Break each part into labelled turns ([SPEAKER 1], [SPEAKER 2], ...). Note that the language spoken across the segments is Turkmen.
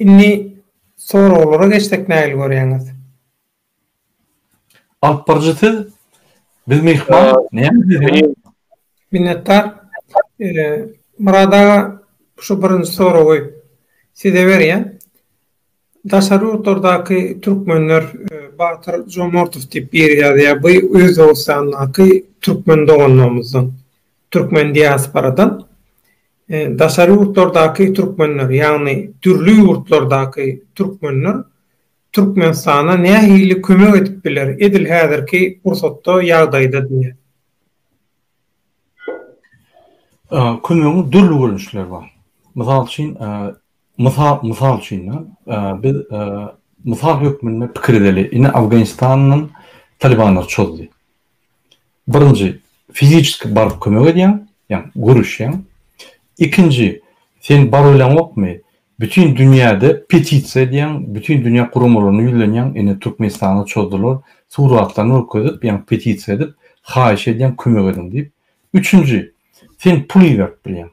[SPEAKER 1] Indi soraglara geçsek nägili görýäňiz?
[SPEAKER 2] Alyp baryjy siz. Biz myhman. Näme Minnetdar.
[SPEAKER 1] Murad aga şu birinji soragy size berýän. Daşary ýurtlardaky türkmenler Batyr Jomortow diýip biri ýazýar. Bu Özbegistandaky türkmen doganlarymyzdan, türkmen diasporadan. Daşary ýurtlardaky türkmenler, ýagny dürli ýurtlardaky türkmenler Türkmenistana nähili kömek edip biler, edil häzirki pursatda, ýagdaýda diýýär.
[SPEAKER 2] Kömegiň dürli görnüşleri bar. Mysal üçin, mysal üçin, biz mysal hökmünde pikir edeli. Indi Afganistandan talibanlar çozdy. Birinji, fiziçeski baryp kömek edýäň, ýagny görüşýäň. Ikinji, sen barybileňokmy, bütin dünýäde petisiýa edýäň, bütin dünýä guramalaryna ýüzlenýäň, ine Türkmenistana çozdular, suratlaryny görkezip, ýagny petisiýa edip, haýyş edýäň, kömek ediň diýip. Üçünji, sen pul iberip bilýäň.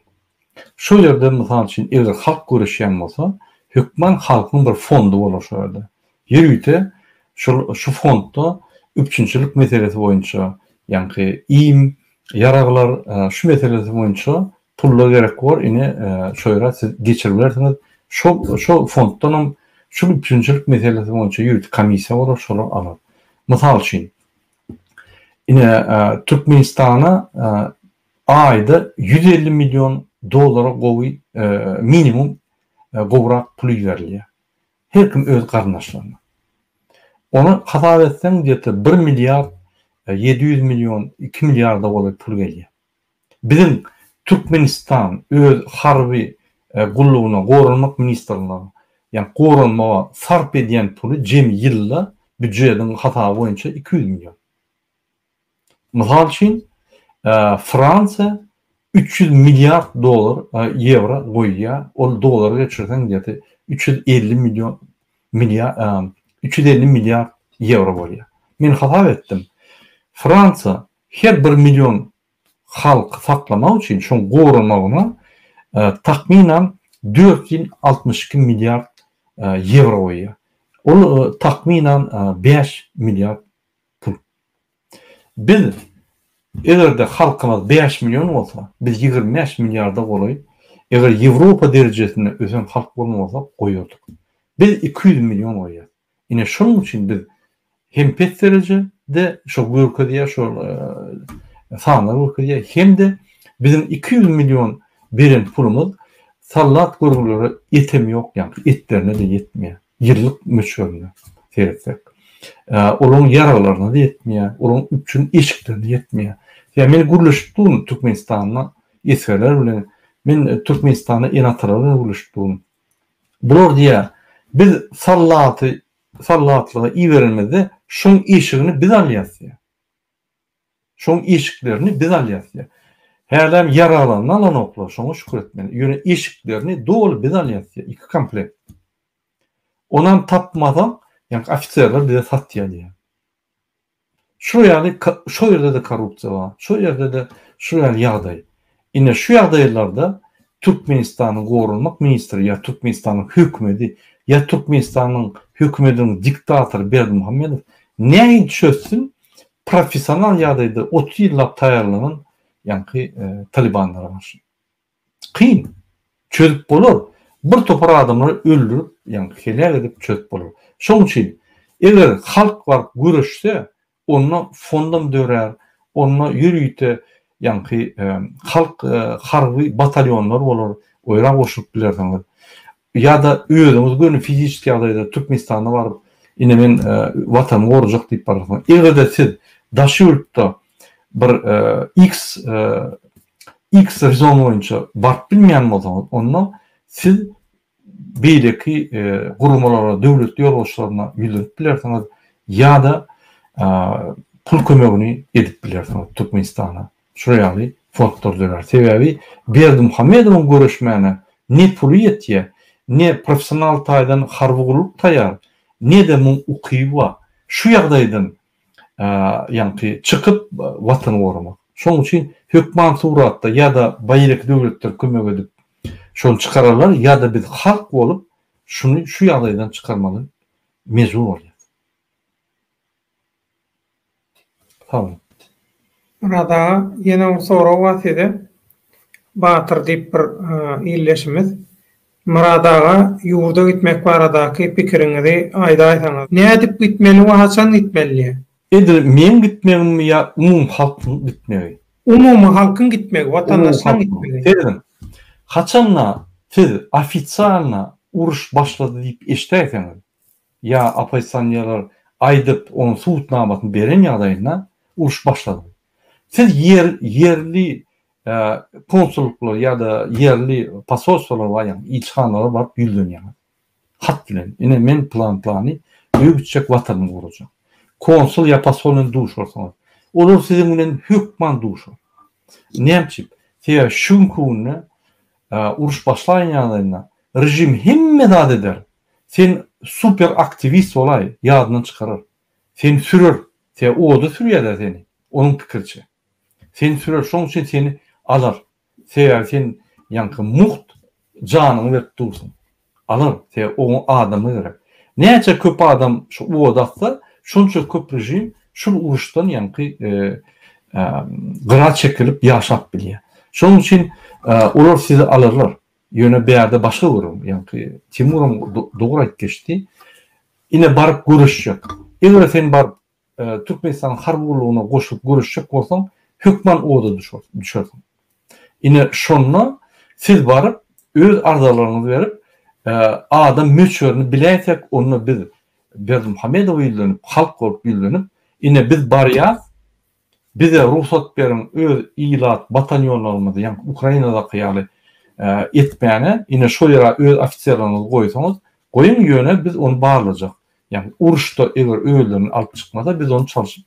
[SPEAKER 2] Şol ýerde, mysal üçin, eger halk göreşýän bolsa, hökman halkyň bir fondy bolar şol ýerde. Ýörite şol şu fondda üpjünçilik meselesi boýunça, ýaňky iým, ýaraglar, şu meselesi boýunça pullar gerek bolar, ine, şo ýere siz geçirip bilersiňiz. Şol şo fonddan hem şul üpjünçilik meselesi boýunça ýörite komissiýa bolar, şolar alar. Mysal üçin, ine, Türkmenistana Aýda ýüz elli million dollara gowy minimum gowrak pul iberilýär. Her kim öz garyndaşlaryna. Ony hasap etseň gdeta bir milliard ýedi ýüz million iki milliarda golaý pul gelýär. Biziň Türkmenistan öz harby gullugyna goranmak ministrligine ýa goranmaga sarp edýän puly jemi ýylda býujediň hasaby boýunça iki ýüz million. Mysal üçin, Fransiýa üç ýüz milliard dollar, ýewro, goýýar, ol dollara geçirseň ýa-da üç ýüz elli million, milliar, üç ýüz elli milliard ýewro bolýar. Men hasap etdim, Fransiýa her bir million halky saklamak üçin, şoň goramagyna takmynan dört ýüz altmyş iki milliard ýewro goýýar. Ol takmynan bäş milliard pul. Biz eger-de halkymyz bäş million bolsa, biz ýigrimi bäş milliarda golaý, eger Ýewropa derejesinde ösen halk bolan bolsak goýardyk. Biz iki ýüz million goýýas. Ine şonuň üçin biz hem pes derejede şo görkezýär, şo sanlar görkezýär, hem-de biziň iki ýüz million beren pulumyz sallat görgülere ýetem ýok ýaňky, etlerine-de ýetmeýär. ýyllyk möçberine seretsek, olaryň ýaraglaryna-da ýetmeýär, olaryň üpjün eşiklerine ýetmeýär. Ýa men gürleşip durun Türkmenistanda esgerler bilen, men Türkmenistanda ene-atalar bilen gürleşip durun. Bular diýýär, biz sallaty sallatlyga iberenimizde şoň eşigini biz alýas diýýär. Şoň eşiklerini biz alýas diýýär. Hälem ýaraglaryny alanoklar, şoňa şükür etmeli. Ýöne eşiklerini doly biz alýas diýýär, iki komplekt. Onam tapmasaň, ýaňky ofiserler bize satýar diýýär. Şu ýaly, şo ýerde-de korrupsiýa bar, şo ýerde-de şu ýaly ýagdaý. Ine şu ýagdaýlarda Türkmenistanyň Goranmak ministri ýa Türkmenistanyň hökümedi ýa Türkmenistanyň hökümediniň diktatory Berdimuhamedow nähili çözsün professional ýagdaýda otuz ýyllap taýýarlanan ýaňky talybanlara garşy. Kyn. Çözüp bolar. Bir topar adamlary öldürip ýaňky heläk edip çözüp bolar. Şoň üçin eger halk baryp göreşse Onda fondam dörär, onda ýörite ýaňky halk harby batalýonlar bolar, oýra goşulyp bilersiňiz. Ýa-da özüňiz göni fiziski ýagdaýda Türkmenistana baryp, ine men Watanymy gorajak diýip bararsyňyz. Eger-de siz daş ýurtda bir X X rezon boýunça baryp bilmeýän bolsaňyz, onda siz beýleki guramalara, döwlet ýolbaşçylaryna ýüzlenip bilersiňiz ýa-da pul kömegini edip bilersiňiz Türkmenistana. Şular ýaly fondlar dörär. Sebäbi Berdimuhamedowyň göreşmäne ne puly ýetýär, ne professional taýdan harby gulluk taýýar, ne-de muň ukyby bar. Şu ýagdaýdan ýaňky çykyp watany goramak. Şoň üçin hökman suratda ýa-da baýrek döwletler kömek edip şony çykararlar ýa-da biz halk bolup şuny şu ýagdaýdan çykarmaly mejbur bolýas. Sag boluň. Myrat
[SPEAKER 1] aga ýene bir sorag bar size. Batyr diýip bir ildeşimiz Myrat aga ýurda gitmek baradaky pikiriňizi aýdaýsaňyz. Nädip gitmeli we haçan gitmeli? Edil meň
[SPEAKER 2] gitmegimmi ýa umumyhalkyň gitmegi? Umumyhalkyň
[SPEAKER 1] gitmegi, watandaşlaryň gitmegi. Serediň,
[SPEAKER 2] haçanda siz ofisialna uruş başlady diýip eşidäýseňiz. ýa oppozisionýerler aýdyp, onuň subutnamasyny beren ýagdaýynda uruş başladygy. Siz ýer, ýerli konsullyklary ýa-da ýerli posolstwalara barýaňyz, ilçihanalara baryp ýüzlenýäňiz. Hat bilen, ine men plan-plany, öý gitjek, watanymy gorajak. Konsul ýa posol bilen duşursaňyz, olar siziň bilen hökman duşar. Näme üçin? Sebäbi şu günki günde Uruş başlaýyn ýagdaýynda režim hemme zat eder. Sen super aktiwist bolaý, ýadyndan çykarar. Seni sürer. Tä oda sürýärler seni, onuň pikiriçe. Seni sürer, şoň üçin seni alar. Sebäbi sen ýaňky mugt janyňy berip dursuň. Alar, sebäbi oňa adama gerek. Näçe köp adam şu owaz atsa, şonça köp režim şul uruşdan ýaňky gyra çekilip ýaşap bilýär. Şonuň üçin olar sizi alarlar. Ýöne bärde başga gürrüň. Ýaňky Timuram dogry aýyp geçdi. Ine baryp göreşjek. Eger sen baryp Türkmenistanyň harby gullugyna goşulyp göreşjek bolsaň, hökman oda düşersiň. Ine, şonda siz baryp, öz arzalaryňyzy berip, adam möçberini biläýsek, onda biz Berdimuhamedowa ýüzlenip, halk bolup ýüzlenip, ine, biz barýas, bize rugsat beriň, öz ilat batalýonlarymyzy, ýaňky Ukrainadaky ýaly etmäne, ine, şo ýere öz ofiserleriňizi goýsaňyz, goýuň, ýöne biz ony barlajak. Ýagny uruşda eger özlerini alyp çykmasa biz ony çalşyp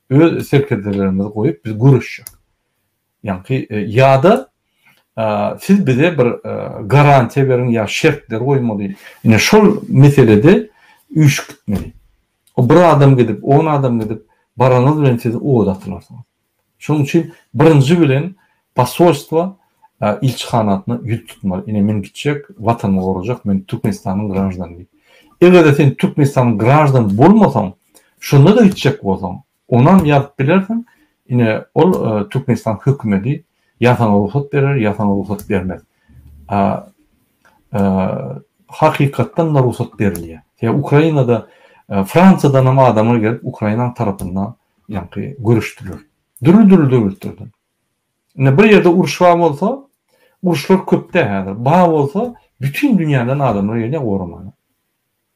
[SPEAKER 2] öz serkerdelerimizi goýup biz göreşjek. Ýagny ýa-da siz bize bir garantiýa beriň ýa şertler goýmaly. Ine şol meselede üýşüp gitmeli. O bir adam gidip, on adam gidip baranyňyz bilen siz oda atylarsyňyz. Şonuň üçin birinji bilen posolstwa, ilçihanasyna ýüz tutmaly. Ine men gitjek, Watanymy gorajak, men Türkmenistanyň graždanyny. Eger-de sen Türkmenistanyň graždany bolmasaň, şonda-da gitjek bolsaň, onam ýazyp bilersiň, ine ol Türkmenistan hökümedi ýa saňa rugsat berer, ýa saňa rugsat bermez. Hakykatdan-da rugsat berilýär. Sebäbi Ukrainada Fransiýadanam adamlar gelip Ukrainanyň tarapynda ýaňky göreşdiler. Dürli-dürli döwletlerden. Ine bir ýerde uruş bar bolsa, uruşlar köpde häzir. Bar bolsa, bütin dünýäden adamlar gelýär goramaga.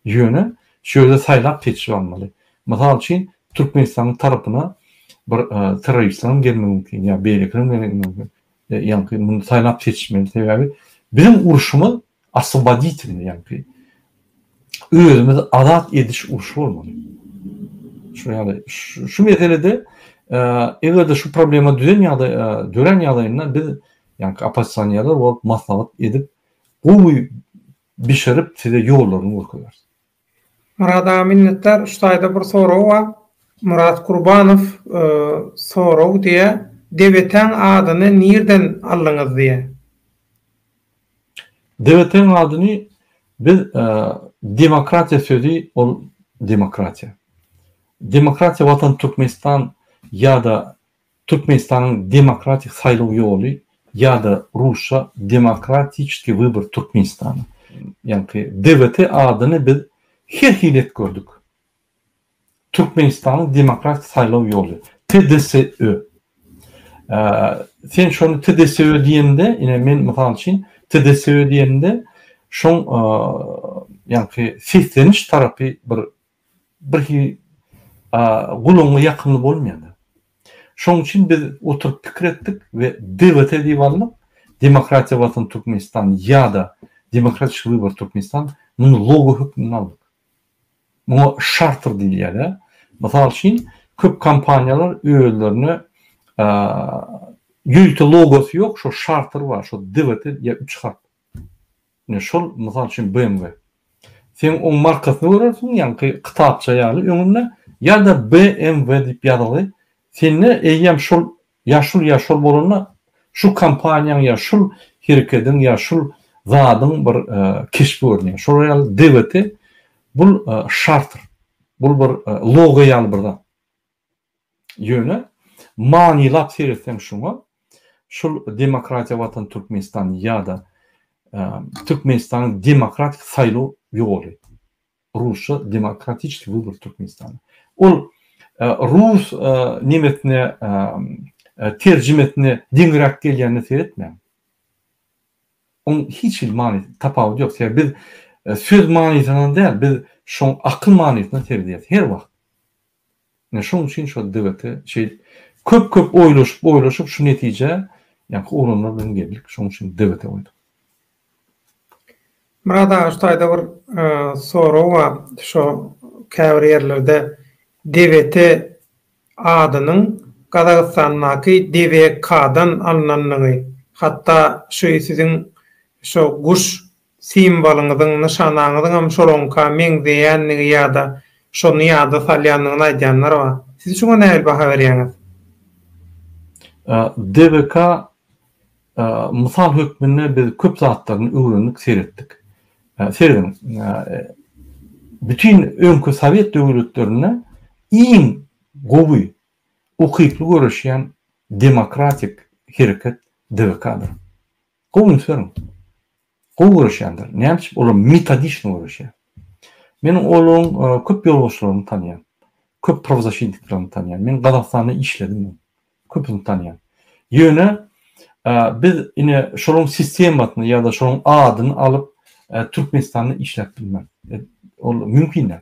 [SPEAKER 2] Ýöne şu ýerde saýlap seçip almaly. Mysal üçin, Türkmenistanyň tarapyna bir e, terroristleriň gelmegi mümkin, ýa beýlekileriň gelmegi mümkin. E, ýaňky muny saýlap seçmeli. Sebäbi biziň uruşymyz Oswoboditelny ýaňky özümizi azat ediş urşy bolmaly. Şu ýaly şu meselede eger-de şu problema düzen ýagdaý dörän ýagdaýynda biz ýaňky oppozisionerler bolup maslahat edip gowy bişirip size ýollaryny görkezeris. Murat
[SPEAKER 1] aga minnetdar üç taýda bir sorag bar Murat Gurbanow sorag diýä Debeteň adyny nirden aldyňyz diýä.
[SPEAKER 2] Debeteň adyny biz demokratiýa sözi ol demokratiýa. Demokratiýa watan Türkmenistan ýa-da Türkmenistanyň demokratik saýlaw ýoly ýa-da rusça Demokratiçeskiý wybor Türkmenistana, ýaňky DWT adyny biz her hili etgördik. Türkmenistanyň demokratik saýlaw ýoly, TDSÖ. Sen şony TDSÖ diýende, ine men mysal üçin TDSÖ diýende şoň ýaňky sesleniş tarapy bir birhili gulagyňa ýakymly bolmaýar. Şoň üçin biz oturyp pikir etdik we debata edip alnyp, Demokratiýa Watan Türkmenistan ýa-da Demokratiş Wybory Türkmenistan muny logo hökmünde aldyk. Muňa şartr diýilýär. Mysal üçin, köp kompaniýalar özlerine ýörite logosy ýok, şo şartr bar, şo debata ýa üç harp. Ine şol mysal üçin BMW. Sen oň markasyny görersiň ýaňky kytapça ýaly öňünde ýa-da BMW diýip ýazylgy. Sende eýýäm şol ýa şul ýa şol bolanda şu kompaniýaň ýa şul herekediň ýa şul zadyň bir keşbi görünýär. Şolar ýaly DWT bul şartr. Bul bir logo ýaly bir zat. Ýöne manylap seretseň şuňa, şul Demokratiýa Watan Türkmenistan ýa-da Türkmenistanyň demokratik saýlaw ýoly, rusça Demokratiçeskiý wybor Türkmenistana, ol rus nemesine terjimesine deňiräk gelýänine seretmäň. Onuň hiç hili many, tapawudy ýok. Sebäbi biz söz manysyndan däl, biz şoň akyl manysyna seredýäs her wagt. Ine şoň üçin şol DGT şeýdip köp köp oýlaşyp oýlaşyp şu netijä ýaňky ugranlar bilen geldik şoň üçin DGT goýduk.
[SPEAKER 1] Myrat aga şu taýda bir sorag bar şo käbir ýerlerde DGT adynyň Gazagystandaky DVK-dan alnandygy hatda şuý siziň şo guş simwolyňyzyň, nyşanaňyzyňam şolaňka meňzeýändigi ýa-da şony ýada salýandygyny aýdýanlar bar. Siz şuňa nähili baha berýäňiz?
[SPEAKER 2] DBK, Mysal hökmünde biz köp zatlaryny öwrendik, seretdik. Serediň, bütin öňki sowet döwletlerinde iň gowy, ukyply göreşýän demokratik hereket DBK-dyr. Gowy ösüň. Gowy göreşýändir. Näme üçin olar metodiçno göreşýär. Men olaryň köp ýolbaşçylaryny tanýan. Köp prowazaşintiklerini tanýan. Men Gazagystanda işledim. Köpüni tanýan. Ýöne biz ine şolaryň sistemasyny ýa-da şolaryň adyny alyp Türkmenistanda işläp bilmän. Ol mümkin däl.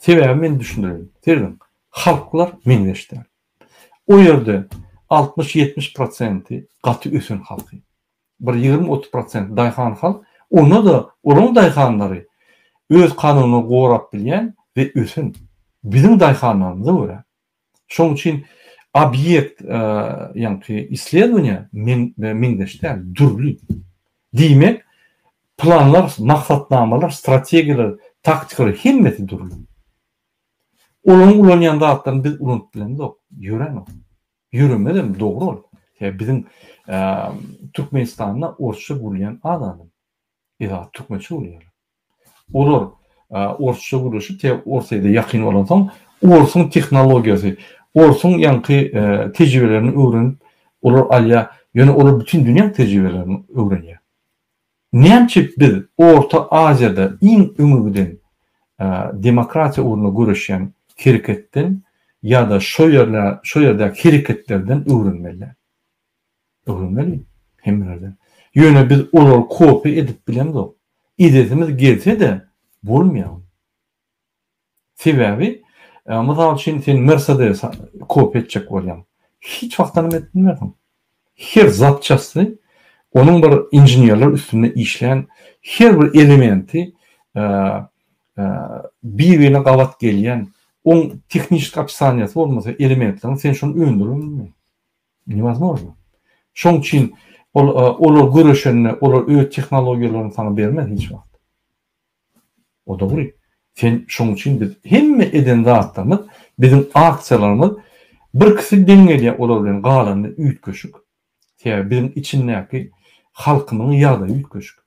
[SPEAKER 2] Sebäbi men düşündireýin. Serediň, halklar meňzeş däl. O ýerde altmyş-ýetmiş prosenti gaty ösen halky. Bir ýigrimi-otuz prosenti daýhan halk, onda-da olaryň daýhanlary öz kanunyny gorap bilýän we ösen. Biziň daýhanlarymyza görä, Şonuň üçin obýekt ýaňky isledowaniýa meňzeş däl, dürli. Diýmek, planlar, maksatnamalar, strategiýalar, taktikalar hemmesi dürli. Olaryň ulanýan zatlaryny biz ulanyp bilemzok, ýörenok. Ýöremezem, dogry ol. Sebäbi biziň Türkmenistanda orsça gürleýän az adam. Yzat türkmençe gülýär. Olar orsça gürleşip te orsaýda ýakyn bolan soň orsuň tehnologiýasy, orsuň ýaňky tejribelerini öwrenip olar alýar. Ýöne olar bütin dünýäň tejribelerini öwrenýär. Nämeçe biz Orta Aziýada iň öňe giden demokratiýa ugrunda göreşýän hereketden ýa-da şo ýerdäki hereketlerden öwrenmeli. Öwrenmeli, hemmelerden. Ýöne biz olary kopýa edip bilemzok. Edesimiz gelse-de, bolmaýar ol. Sebäbi, mysal üçin, sen Mersedesi kopýa etjek bolýaň. Hiç wagtanam edip bilmersiň. Her zapçasty, onuň bir inženerler üstünde işlän her bir elementi, bir-birine gabat gelýän, oň tehnişki opsaniýasy bolmasa elementleriň, sen şony öndürip bilmersiň. Newozmozno. Şoň üçin ol olar göreşende olar öz tehnologiýalaryny saňa bermez hiç wagt. O dogry. Sen şoň üçin biz hemme eden zatlarymyz, biziň aksiýalarymyz birkisi deň gelýär olar bilen galany üýtgeşik. Sebäbi biziň içindäki halkymyň ýagdaýy üýtgeşik.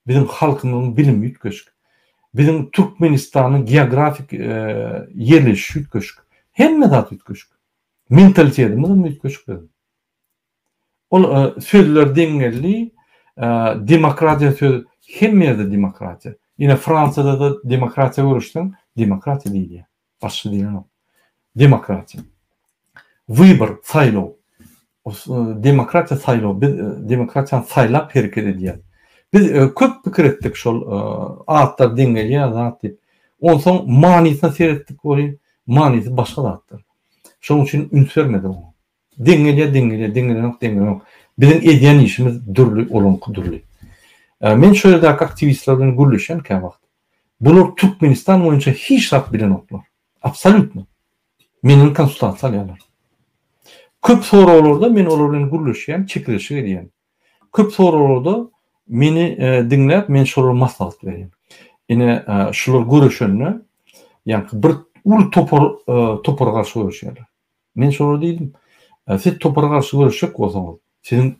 [SPEAKER 2] Biziň halkymyň bilimi üýtgeşik. Biziň Türkmenistanyň geografik ýerleşişi üýtgeşik. Hemme zat üýtgeşik. Mentalitetimiz üýtgeşikdi. Ol sözler deň geldi. Demokratiýa sözi hemme ýerde demokratiýa. Ine Fransiýada-da demokratiýa görüşseň, demokratiýa diýilýär. Başga diýlenok. Demokratiýa. Wybor, saýlaw. Demokratiýa saýlaw. Biz demokratiýany saýlap hereket edýäs. Biz köp pikir etdik şol atlar deň gelýär zat diýip. Onsoň manysyna seretdik welin, manysy başga zatdyr. Şonuň üçin üns bermedi oňa. Deň gelýär, deň gelýär, deň gelenok, deň gelenok. Biziň edýän işimiz dürli, olaňky dürli. Men şu ýerdäki aktiwistler bilen gürleşýän käwagt. Bular Türkmenistan boýunça hiç zat bilenoklar. Absolýutno. Menden konsultasiýa alýarlar. Köp soraglarda men olar bilen gürleşýän, çekeleşik edýän. Köp soraglarda meni diňläp men şolara maslahat berýän. Ine şular göreşende ýa-da bir uly topar topara garşy göreşýärler. Men şolara diýdim, siz topara garşy göreşjek bolsaňyz, siziň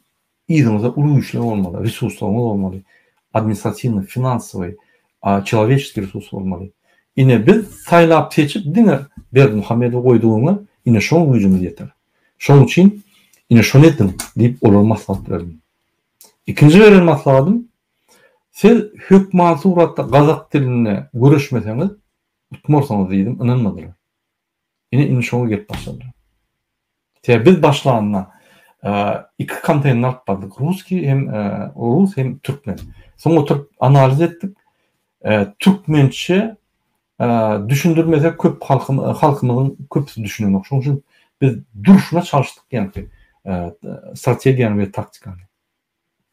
[SPEAKER 2] yzyňyzda uly güýçler bolmaly, resurslaryňyz bolmaly, administratiwnyý, finansowyý, çeloweçeskiý resurs bolmaly. Ine biz saýlap-seçip diňe Berdimuhamedowy goýdugyňa ine şoň güýjümiz ýeter. Şonuň üçin, ine şony ediň diýip olara maslahat berdim. Ikinji beren maslahatym, siz hökman suratda gazak dilinde göreşmeseňiz, utmarsyňyz diýdim, ynanmadylar. Ine indi şoňa gelip başladylar. Sebäbi biz başlanda iki konteýner alyp bardyk, russkiý hem rus hem türkmen. Soň oturyp analiz etdik. Türkmençe Düşündirmesek köp halkymyzyň köpüsi düşünenok. Şonuň üçin biz durşuna çalyşdyk ýaňky strategiýany we taktikany.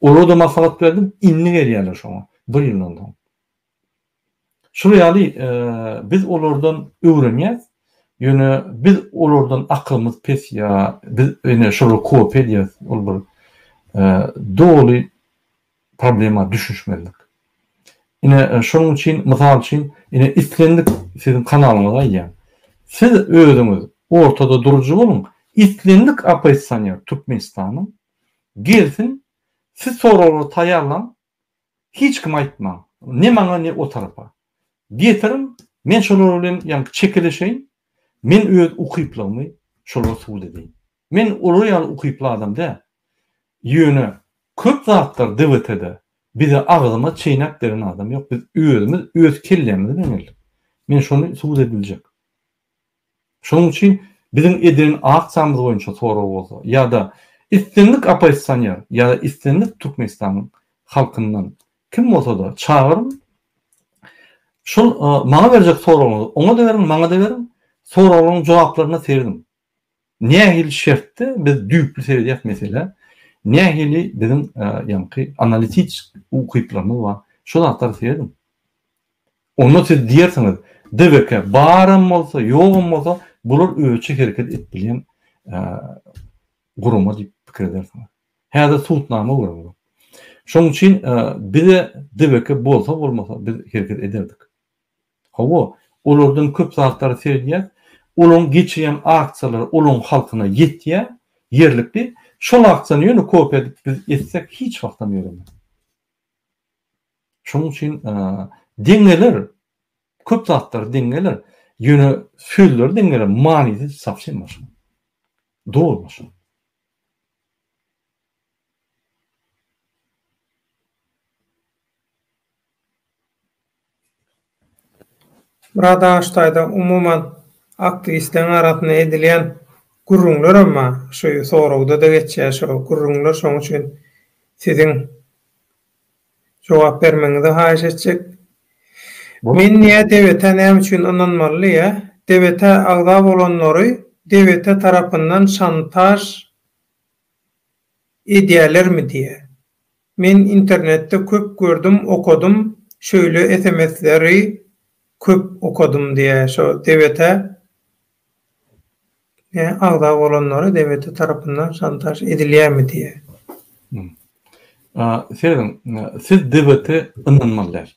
[SPEAKER 2] Olarda maslahat berdim, indi gelýärler şoňa, bir ýyldan soň. Şular ýaly biz olardan öwrenýäs. Ýöne biz olardan akylymyz pes ýa biz ine şolary kopýa edýäs, ol bir doly problema düşüşmezlik. Ine şonuň üçin mysal üçin ine islendik siziň kanalyňyzy aýdýan. Siz özüňiz ortada durujy boluň, islendik oppozisioner Türkmenistanyň gelsin, siz soraglary taýýarlaň, hiç kime aýtmaň, ne maňa ne o tarapa. Getiriň, men şolar bilen ýaňky çekeleşeýin, men öz ukyplygymy şolara subut edeýin. Men olar ýaly ukyply adam däl. Ýöne köp zatlar DBT-de bize agzyma çeýnäp beren adam ýok. Biz özümiz öz kellämiz bilen geldik. Men şony subut ediljek. Şonuň üçin biziň edilen aksiýamyz boýunça sorag bolsa ýa-da islendik oppozisioner ýa-da islendik Türkmenistanyň halkyndan kim bolsa-da çagyryň, şol maňa berjek soragyňyzy oňa-da beriň, maňa-da beriň, soraglaryň jogaplaryna serediň. nähili şertde biz düýpli seredýäris meselä, nähili biziň ýaňky analititsk ukyplarymyz bar, şu zatlary serediň. Onda siz diýersiňiz, DBK baram bolsa, ýogam bolsa, bular özüçe hereket edip bilýän gurama diýip pikir edersiňiz. Häzir subutnama görüň bu. Şonuň üçin bize DBK bolsa bolmasa biz hereket ederdik. Hawa, olardan köp zatlara seredýäs. Olaryň geçirýän aksiýalary olaryň halkyna ýetýär, ýerlikli. Şol aksiýany ýöne kopiýa edip biz etsek hiç wagtam ýöremez. Şonuň üçin deň geler, köp zatlar deň geler. Ýöne sözleri deň geler, manysy sowsem başga. Doly başga.
[SPEAKER 1] Bir adaş taýda umuman aktiwistleriň arasynda edilýän gürrüňler hem bar. Şu soragda-da geçýär şo gürrüňler. Şoň üçin siziň jogap bermegiňizi haýyş etjek. Men diýýär, DBT-ä näme üçin ynanmaly diýýär. DBT-ä agza bolanlary DBT tarapyndan şantaž edýärlermi diýýär. Men internetde köp gördüm okadym şöýle sms leri köp okadym diýä şo debete ne agza bolanlara debete tarapyndan şantaž edilýämi diýä.
[SPEAKER 2] Seredin siz debete ynanmaly däl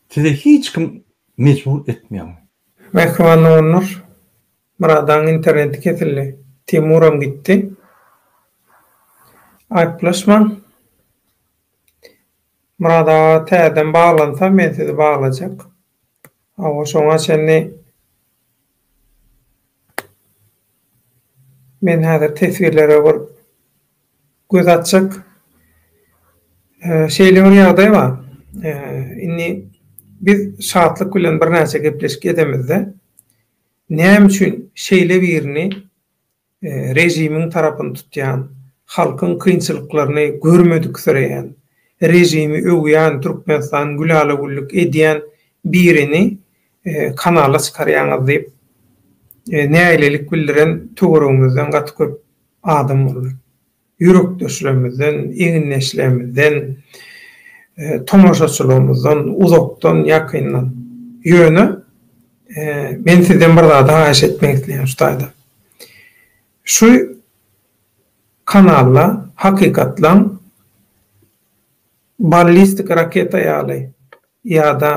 [SPEAKER 2] size hiç kim mejbur etmeýär. Mähriban
[SPEAKER 1] doganlar Myradaň interneti kesildi. Timuram gitdi. Aýyplaşmaň. Myrat aga täzeden baglansa men sizi baglajak. Hawa şoňa çenli men häzir teswirlere bir göz atjak. Şeýle bir ýagdaý bar. Indi biz Şatlyk bilen birnäçe gepleşik edemizde. Näme üçin şeýle birini režimiň tarapyny tutýan, halkyň kynçylyklaryny görmediksireýän, režimi öwýän, Türkmenistany gülala-güllük edýän birini kanala çykarýaňyz diýip, nägilelik bildiren töweregimizden gaty köp adam boldy. ýürekdeşlerimizden, egindeşlerimizden, tomaşaçylarymyzdan, uzakdan, ýakyndan. Ýöne, men sizden bir zady haýyş etmek isleýän şu taýda. Şu kanalda hakykatlaň ballistik raketa ýaly ýa-da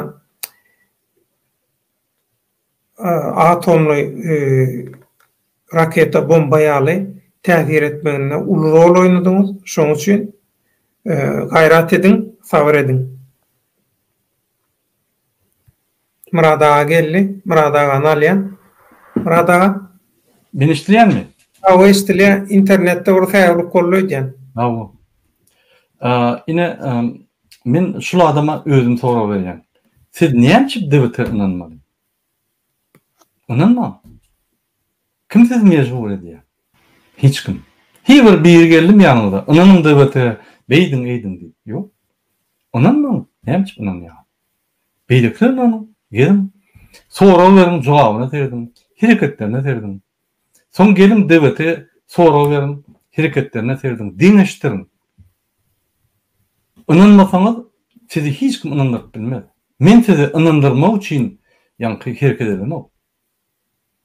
[SPEAKER 1] atomly raketa, bomba ýaly täsir etmeginde uly rol oýnadyňyz. Şonuň üçin gaýrat ediň, sabyr ediň. Myrat aga geldi. Myrat agany alýan. Myrat aga. Meni eşidilýärmi?
[SPEAKER 2] Hawa, eşidilýär.
[SPEAKER 1] Internetde bir säwlik boldy öýdýän. Hawa.
[SPEAKER 2] Ine, Men şul adama özüm sorag berýän. Siz näme üçin debite ynanmaly? Ynanmaň. Kim sizi mejbur edýär? Hiç kim. Hiç bir biri geldim ýanyňyza, ynanyň debite, beýdiň, eýdiň diýip. Ýok. Ynanmaň. Näme üçin ynanýar? Beýlekilere ynanyň. Geliň. Sorag beriň, jogabyna serediň. Hereketlerine serediň. Soň geliň debite sorag beriň, hereketlerine serediň. Deňeşdiriň. Ynanmasaňyz, sizi hiç kim ynandyryp bilmez. Men sizi ynandyrmak üçin ýaňky hereket edenok.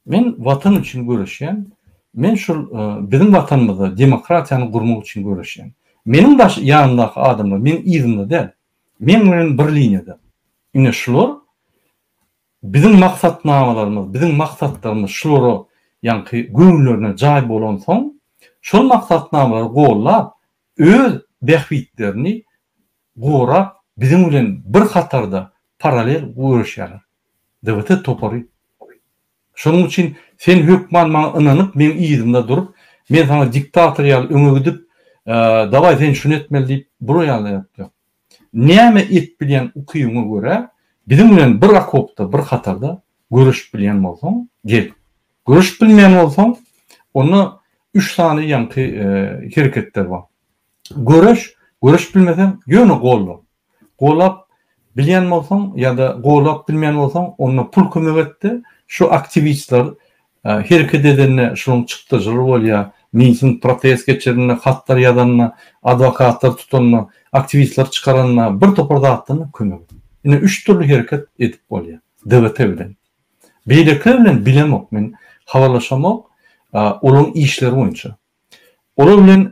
[SPEAKER 2] Men Watan üçin göreşýän. Men şul biziň Watanymyzda demokratiýany gurmak üçin göreşýän. Meniň daş ýanymdaky adamlar meň yzymda däl. Meň bilen bir liniýada. Ine şular Biziň maksatnamalarymyz, biziň maksatlarymyz şulara ýaňky göwünlerine jaý bolansoň, şol maksatnamalary gollap, öz bähbitlerini gorap, biziň bilen bir hatarda, paralel göreşýärler. DBT topary. Şonuň üçin sen hökman maňa ynanyp, meň yzymda durup, men saňa diktator ýaly öňe gidip, dawaý sen şuny etmeli diýip, bular ýaly zat ýok. Näme edip bilýän ukybyňa görä, biziň bilen bir okopda, bir hatarda göreşip bilýän bolsaň, gel. Göreşip bilmeýän bolsaň, onda üç sany ýaňky hereketler bar. Göreş, göreşip bilmeseň, ýöne golla. Golap bilýän bolsaň ýa-da golap bilmeýän bolsaň, onda pul kömek etdi, şu aktiwistler Hereket edende şunuň çykdajylar bolýar. Miting, protest geçirende, hatlar ýazanda, adwokatlar tutanda, aktiwistler çykaranda, bir topar zatdan kömek et. Ine üç dürli hereket edip bolýar. DVT bilen. Beýlekiler bilen bilemok men. Habarlaşamok. Olaryň işleri boýunça. Olar bilen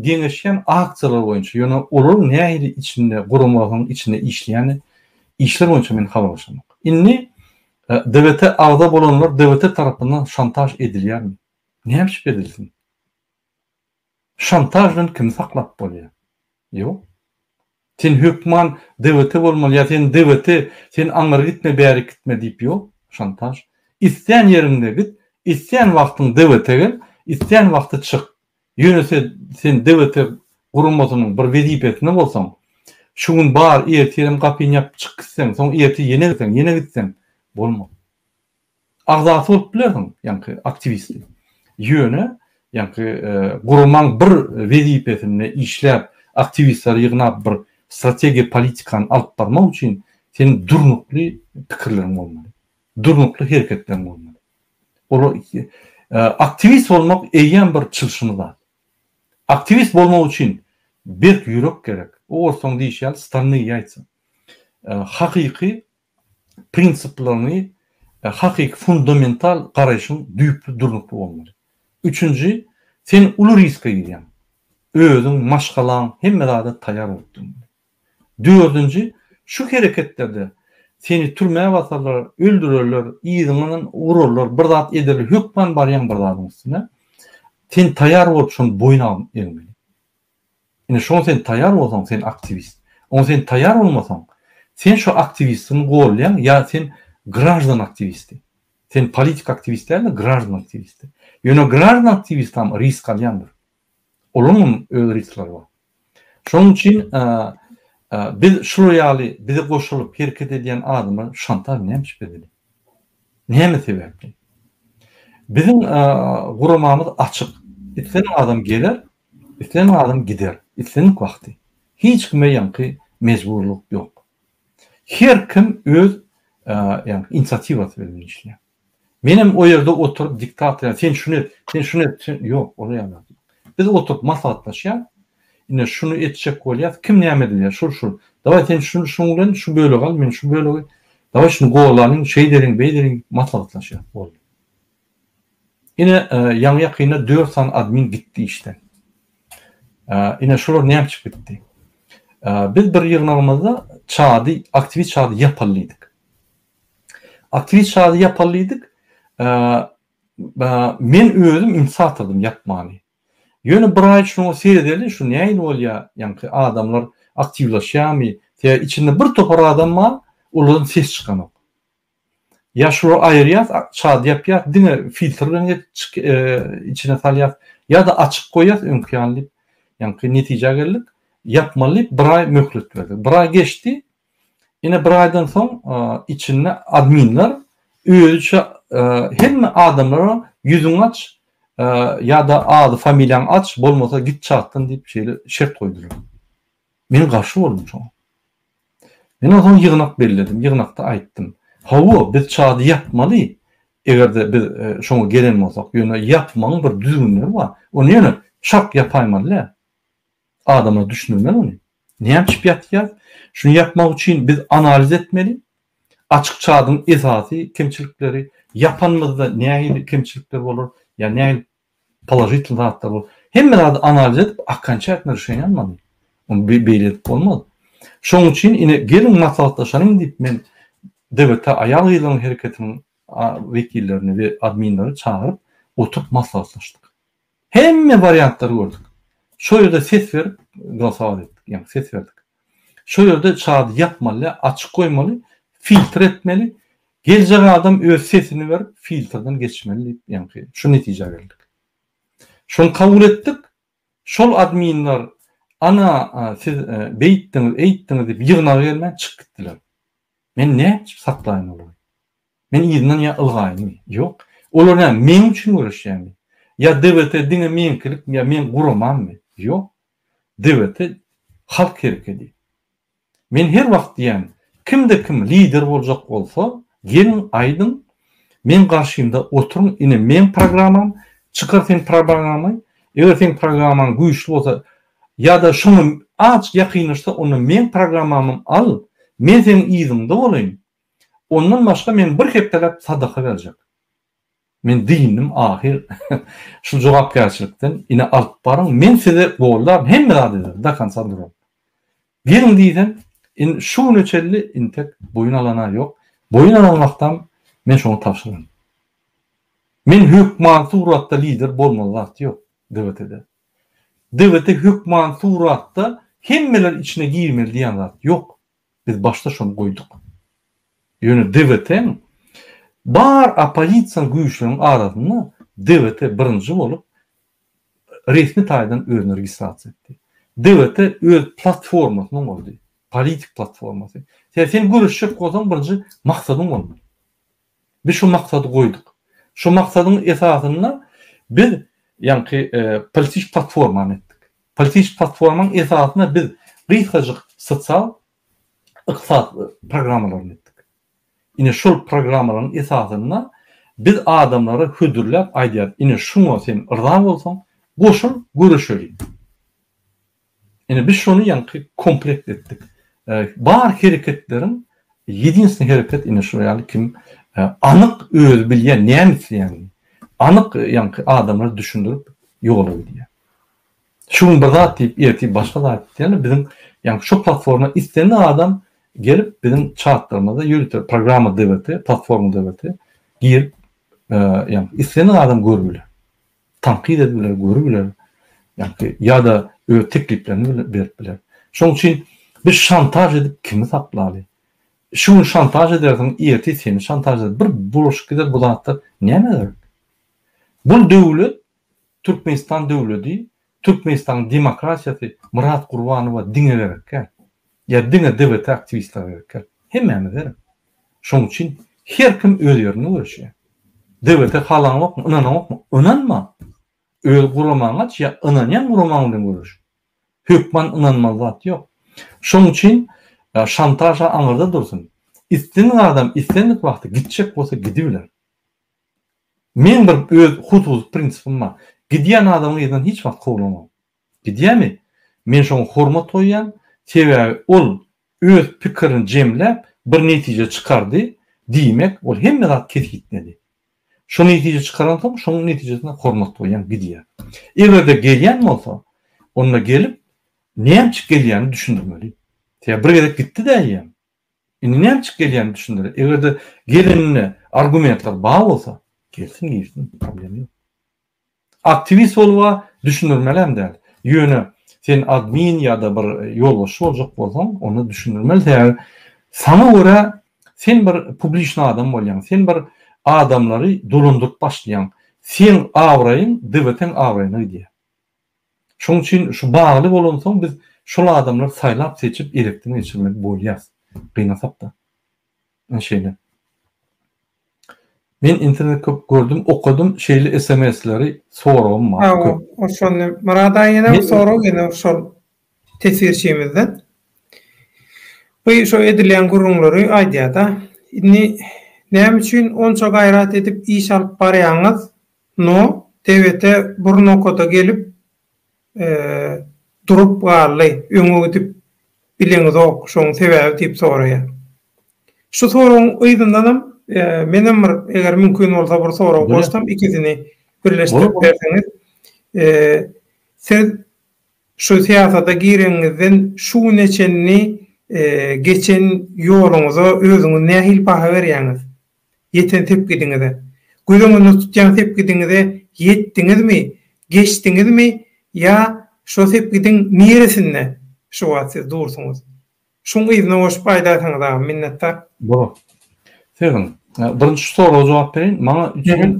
[SPEAKER 2] geňeşýän aksiýalar boýunça, ýöne olaryň nähili içinde, guramasynyň içinde işleýäni, işler boýunça men habarlaşamok. Indi DBT-e agza bolanlar DBT tarapyndan şantaž edilýärmi? Näme üçin edilsin? Şantaž bilen kimi saklap bolýar? Ýok. Sen hökman DVT bolmaly ýa sen DVT, sen aňyr gitme bärik gitme diýip ýok, şantaž. Islän ýeriňde git, islän wagtyň DVT gel, islän wagty çyk. Ýönese sen DVT guramasynyň bir wezipesinde bolsaň, şu gün bar, ertirem gapyny ýapyp çyk gitseň, soň ertir ýene gitseň, ýene gitseň, bolmaz. agzasy bolup bilersiň, ýaňky aktiwisti. Ýöne, ýaňky guramaň bir wezipesinde işläp, aktiwistleri ýygnap bir strategiýa politikany alyp barmak üçin seň durnukly pikirleriň bolmaly. Durnukly hereketleriň bolmaly. Ol aktiwist bolmak eýýäm bir çylşymy zat. Aktiwist bolmak üçin berk ýürek gerek. Orsulaň diýişi ýaly stolnyýe ýaýtsa. Hakyky prinsiplaryny hakyky fundamental garaýşyň düýpli durnukly bolmaly. Üçünji, sen uly riske girýäň. Özüň, maşgalaň hemme zada taýýar bolup durmaly. Dördünji, şu hereketlerde seni türmä basarlar, öldürerler, yzyňdan urarlar, bir zat ederler, hökman barýaň bir zadyň üstüne. Sen taýýar bolup şony boýun egmeli. Indi şoňa sen taýýar bolsaň, sen aktiwist. Oňa sen taýýar bolmasaň, sen şo aktiwistiň golýaň ýa sen graždan aktiwisti. Sen politik aktiwist däl-de, graždan aktiwisti. Ýöne graždan aktiwistam risk alýandyr. Olaňam öz risklary bar. Şonuň üçin biz şular ýaly bize goşulyp hereket edýän adamlar şantaž nämiş bizede? Näme sebäpli? Biziň guramamyz açyk. Islendik adam geler, Islen adam gider, islenik wagty. Hiç kime ýaňky mejburlyk ýok. Her kim öz ýaňky inisiatiwasy bilen işleýär. Menem o ýerde oturyp diktator ýaly sen şuny et, sen şuny et, sen ýok, ol ýaly zat ýok. Biz oturyp maslahatlaşýas. Ine şuny etjek bolýas, kim näme diýýär, şul şul. Dawaý sen şuny şuň bilen şu bölegi al, men şu bölegi. Dawaý şuny golalyň, şeýdeliň, beýdeliň, maslahatlaşýas, boldy. Ine ýaňy ýakynda dört sany admin gitdi işden. Ine şular näme üçin gitdi? Biz bir ýygnagymyzda çady, aktiwist çady ýapallydyk. Aktiwist çady ýapallydyk. Men özüm ünsi atydym ýapmany. Ýöne bir aý şuňa seredeli şu nähili bolýar, ýaňky adamlar aktiwlaşýarmy? Sebäbi içinde bir topar adam bar, olardan ses çykanok. Ýaşuly aýyrýas, çad ýapýas, diňe filtr bilen geçjik içine salýas, ýa-da açyk goýýas öňki ýaly diýip, ýaňky netijä geldik, ýapmaly diýip bir aý möhlet berdik. Bir aý geçdi, ine bir aýdan soň içinde adminler özüçe hemme adamlara ýüzüňi aç ýa-da ady familiýaňy aç, bolmasa git çatdan diýip şeýle şert goýdular. Men garşy boldum şoňa. Men onsoň ýygnak belledim, ýygnakda aýtdym. Hawa, biz çady ýapmaly, eger-de biz şoňa gelen bolsak, ýöne ýapmagyň bir düzgünleri bar. Ony ýöne şak ýapaýmaly däl. Adamlar düşündirmeli ony. Näme içip ýatýar? Şuny ýapmak üçin biz analiz etmeli. Açyk çadyň esasy kemçilikleri, ýapanymyzda nähili kemçilikler bolar, ýa nähili Položitl zatlar bol. Hemme zady analiz edip akan çäkine rişeniýa almaly. Ony beýle edip bolmaz. Şoň üçin ine geliň maslahatlaşalyň diýip men DBT aýal-gyzlaryň hereketiniň wekillerini we adminleri çagyryp oturyp maslahatlaşdyk. Hemme wariantlary gördük. Şo ýerde ses berip glosowaly etdik. Ýagny ses berdik. Şo ýerde çady ýapmaly, açyk goýmaly, filtr etmeli. Geljek adam öz sesini berip, filtrden geçmeli diýip, ýaňky şu netijä geldik. Şony kabul etdik. Şol adminler, Ana, siz beýtdiňiz, eýtdiňiz diýip, ýygnaga gelmän çykyp gitdiler. Men nätjip saklaýyn olary? Men yzyndan ýa ylgaýynmy? Ýok. Olar näme, meň üçin göreşýärmi? Ýa DBT diňe meňkilikmi, ýa meň guramammy? Ýok. Döwetel halk herekedi. Men her wagt diýýän, kimde kim lider boljak bolsa, geliň aýdyň, meň garşymda oturyň, ine meň programam, çykar seň probagamyň, eger seň programaň güýçli bolsa, ýa-da şoňa azjyk ýakynlaşsa, onda meň programamym al, men seň yzyňda bolaýyn, ondan başga men bir hepdeläp sadaka berjek. Men dyndim ahyr şul jogapkärçilikden ine alyp baryň men size goldar hemme zat ederin dakonca duran geliň diýsem in şu güne çelli intek boýun alana ýok boýun alan wagtam men şoňa tabşyran men hökman suratda lider bolmaly zat ýok dwtde dwt hökman suratda hemmeler içine girmeli diýen zat ýok Biz başda şony goýduk. Ýöne DVT-niň bar oppozision güýçleriň arasynda DVT birinji bolup resmi taýdan özüni registrasiýa etdi. DVT öz platformasyny gurdy, politik platformasy. Sen sen göreşjek bolsaň birinji maksadyň bolmaly. Biz şu maksady goýduk. Şu maksadyň esasynda biz ýaňky politiki platformany etdik. Politiki platformanyň esasynda biz gysgajyk sosial, yksat programmalaryny etdik. Ine şol programmalaryň esasynda biz adamlara hödürläp aýdýarys, ine şuňa sen yrza bolsaň, goşul, göreşeliň. Ine biz şony ýaňky komplekt etdik. Bar hereketleriň ýedinsni hereket ine şu ýaly kim anyk özi bilýän näme isleýänini. Anyk ýaňky adamlar düşündirip ýola gidýär. Şu gün bir zat diýip ertir başga zat diýýärler biziň ýaňky şu platforma islendik adam gelip biziň çatlarymyzda ýörite programma DVT platforma DVT girip ýaňky islendik adam görüp biler. tankyt edip biler, görüp biler, ýa-da ýa-da öz tekliplerini berip biler. Şonuň üçin biz şantaž edip kimi saklaly? Şu gün şantaž edersiň, ertir seni şantaž eder. Bir bulaşyp gider bu zatlar. Nämä gerek? Bu döwlet Türkmenistan döwledi, Türkmenistanyň demokratiýasy Myrat Gurbanowa diňe gerek däl. Ýa diňe DBT aktiwistleri gerek däl. Hemmämiz gerek. Şoň üçin her kim öz ýerinde göreşýär. DBT halaňokmy, ynanaňokmy, ynanma. Öz guramaňy aç ýa ynanýan guramaň bilen göreş. Hökman ynanmaly zat ýok. Şoň üçin şantaž aňyrda dursun. Islendik adam islendik wagty gitjek bolsa gidibiler. Meň bir öz hususy prinsipim bar. Gidýän adamyň yzyndan hiç wagt kowlamam. Gidýärmi? Men şoňa hormat goýýan, sebäbi ol öz pikirini jemläp, bir netije çykardy, diýmek, ol hemme zat kesgitledi. Şo netije çykaransoň, şoň netijesine hormat goýýan, gidýän. Eger-de gelýän bolsa, onda gelip, näme üçin gelýänini düşündirmeli. Sebäbi bir gezek gitdi-dä eýýäm. Indi näme çykyp gelýänini düşündirer. Eger-de gelenine argumentler bar bolsa, gelsin girsin, problem ýok. Aktiwist boluba düşündirmelem däl. Ýöne sen admin ýa-da bir ýolbaşçy boljak bolsaň, onda düşündirmeli. Sebäbi saňa görä sen bir publiçny adam bolýaň. Sen bir adamlary dolandyryp başlaýaň. Seň abraýyň DWT-niň abraýyna gidýär. Şoň üçin şu bagly bolansoň biz şol adamlar saýlap seçip elekden geçirmeli bolýas. Gynasak-da. Ine şeýle. Men internet köp gördüm, okadym, şeýle sms-leri soragym bar. Hawa, o şol.
[SPEAKER 1] Murad aýyna sorag geldi şol teswirçimizden. Bu şu edilýän gürrüňleri aýdýar-da. Indi näme üçin onça gaýrat edip iş alyp barýaňyz? No, Tebete bir nokada gelip durup galdy, öňe gidip bileňizok, şoň sebäbi diýip soraýar. Şu soragyň yzyndanam menem bir eger mümkin bolsa bir sorag goşsam ikisini birleşdirip berseňiz. Siz şu syýasata gireňizden şu güne çenli geçen ýoluňyza özüňiz nähili baha berýäňiz? ýeten sepgidiňize. Göz öňünde tutýan sepgidiňize ýetdiňizmi, geçdiňizmi ýa şo sepgidiň niresinde şu wagt siz dursuňyz? Şuň yzyna goşup aýdarsyňyz agam, minnetdar. Bolar.
[SPEAKER 2] Seziň. Birinji soraga jogap bereýin. Maňa üçin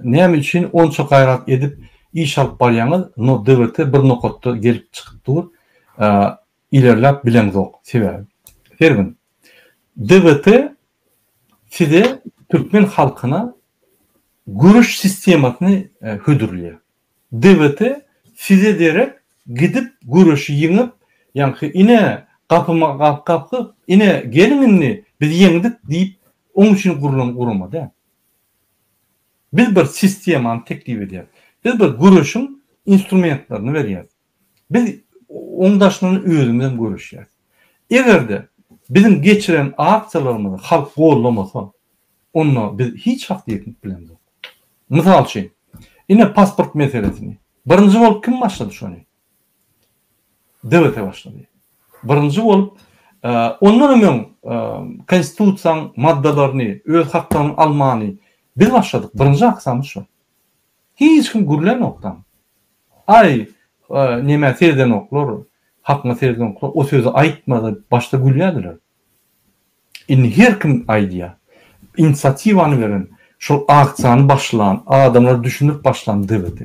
[SPEAKER 2] näme üçin onça gaýrat edip iş alyp barýaňyz, no DVT bir nokatda gelip çykyp dur, ilerläp bileňzok. Sebäbi. Sergin. DVT Size türkmen halkyna göreş sistemasyny hödürleýär. DWT size derek gidip göreşi ýeňip, ýaňky ine gapyma gap gapyp, ine geliň indi biz ýeňdik diýip oň üçin gurlan gurama däl. Biz bir sistemany teklip edýäris. Biz bir göreşiň instrumentlerini berýäris. Biz oň daşyndan özümizem göreşýäris. Eger-de biziň geçiren aksiýalarymyzy halk gollamasa, onda biz hiç wagt ýetip bilemzok. Mysal üçin, ine pasport meselesini birinji bolup kim başlady şony? DBT başlady. Birinji bolup ondanam öň konstitusiýaň maddalaryny, öz haklaryňy almany biz başladyk. Birinji aksiýamyz şo. Hiç kim gürlänokdam. Aý, nemä seredenoklar, hakyňa seredenoklar, o sözi aýtma diýip başda gülýärdiler. Indi her kim aýdýar. Inisiatiwany beren, şol aksiýany başlan, adamlara düşündirip başlan DVT.